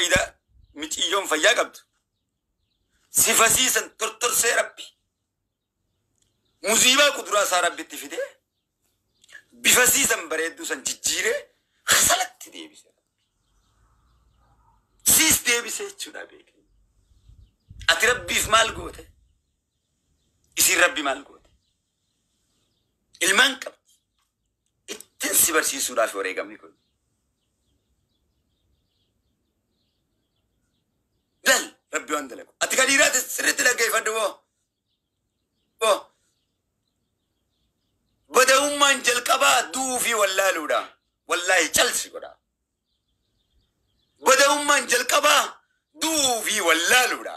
Ida miciyyoon fayyaa qabdu. Si fasiisan tortorsee rabbi. Muziibaa kuduraa isaa rabbitti fidee bifasiisan bareedduu san jijjiiree hasalatti deebise. Siis deebise jechuudha beeke. Ati rabbiif maal goote? Isin rabbi maal goote? Ilmaan qabdi. Ittin si barsiisuudhaaf wareegamni kun. Lal rabbi waan dalagu. Ati kan dhiiraati sirriitti dhaggeeffadhu boo. Boo. Bada'ummaan jalqabaa du'uu fi wallaaluudha. Wallaahi calsi godha. Bada'ummaan jalqabaa du'uu fi wallaaluudha.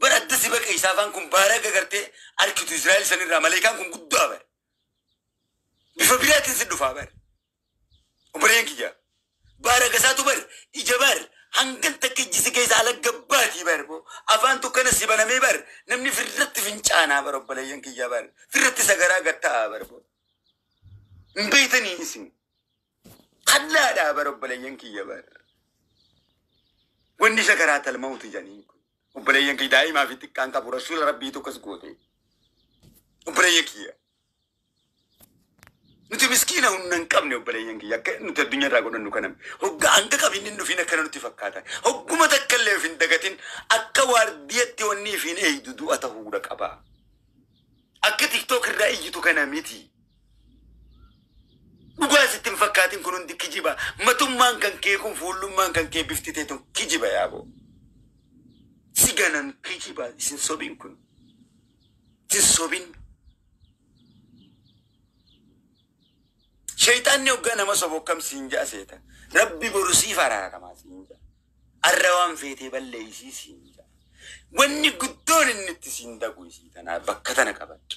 Bar adda si baqe isaafaan kun baaraga gartee arkitu Israa'el sanirraa maleekaan kun guddaa bar. Bifa biraatiin si dhufaa bar. Obboleen kiyya. Baaraga isaatu bar ija bar hangan takka ijji si keessa alagga baatii bar boo. Afaan tukkana si banamee bar namni firratti fincaanaa bar obboleeyyan kiyya bar. Firratti sagaraa gatta'aa bar boo. Hin beeytanii isin. Kallaa dhaa bara obboleeyyan kiyya bara. Wanni sakaraa talma'uutu jedhaniin kun. Obboleeyyan kiyya daa'imaa fi xiqqaan qabu rasuula rabbii tokkos goote. Obboleeyyan kiyya. Nuti miskiina humna hin qabne obboleeyyan kiyya akka nuti addunyaa irraa godhannu kana hoggaa hanga qabiin hin dhufiin akkana nutti fakkaata. Hogguma takka illee of hin dagatin akka waardiyatti wanni ifiin eeydu du'a ta'uudha qaba. Akka tiktook irraa iyyitu kana miti. Dhugaa sitti hin fakkaatin kun hundi kijiba. Matummaan kan kee kun fuullummaan kan kee bifti tee tun kijiba yaaboo. Si ganan kijiba isin sobin kun. Isin sobin. Shayxaanni hoggaa nama sobu akkam siin ja'a seeta. Rabbi boru siif araaramaa siin ja'a. Arra waan feetee balleeysii siin ja'a. Wanni guddoon inni itti siin daqu isii tanaa bakka tana qabadha.